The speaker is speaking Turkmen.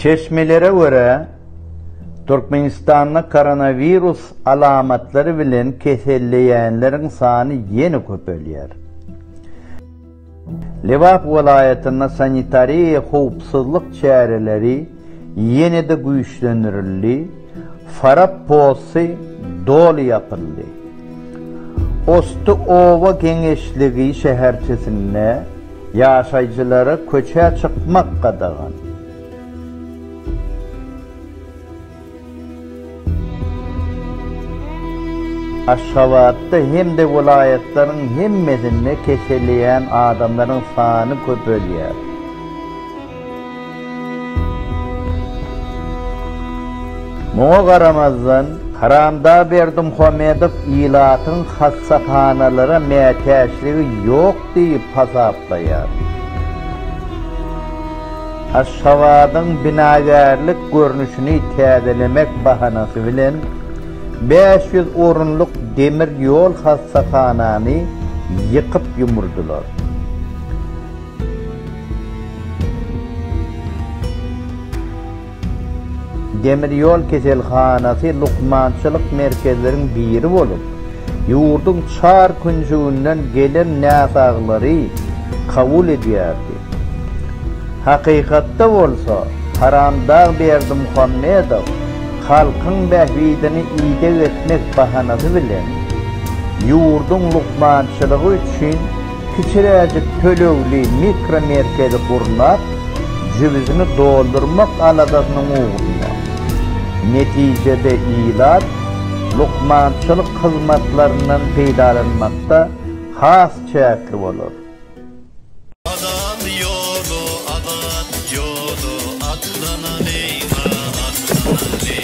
Çeşmelere görä, Türkmenistanda koronawirus alamatlary bilen keselleýänleriň sany ýene köpelýär. Lebap welaýatynda sanitariýa howpsuzlyk çäreleri ýene-de güýçlendirildi, Farap posty doly ýapyldy. Osty oba geňeşligi şäherçesinde. Ýaşaýjylara köçä çykmak gadagan. Aşgabatda hem-de welaýatlaryň hemmesinde keselleýän adamlaryň sany köpelýär. Muňa garamazdan, Karamdag Berdimuhamedow ilatyň hassahanalara mätäçligi ýok diýip hasaplaýar. Aşgabadyň binagärlik görnüşini täzelemek bahanasy bilen bäş ýüz orunlyk demir ýol hassahanany ýykyp-ýumurdylar. Demir ýol keselhanasy lukmançylyk merkezleriň biri bolup, ýurduň çar künjüginden gelen näsaglary kabul edýärdi. Hakykatda bolsa, Haramdag Berdimuhamedow halkyň bähbidini ideg etmek bahanasy bilen, ýurduň lukmançylygy üçin Kiçiräjik tölegli mikromerkezi gurnap, jübüsini doldurmak aladasynyň ugrunda. Netijede ilat lukmançylyk hyzmatlaryndan peýdalanmakda has çäkli bolar. Adam ýoly abat ýoly, atlanalyň-a, atlanalyň!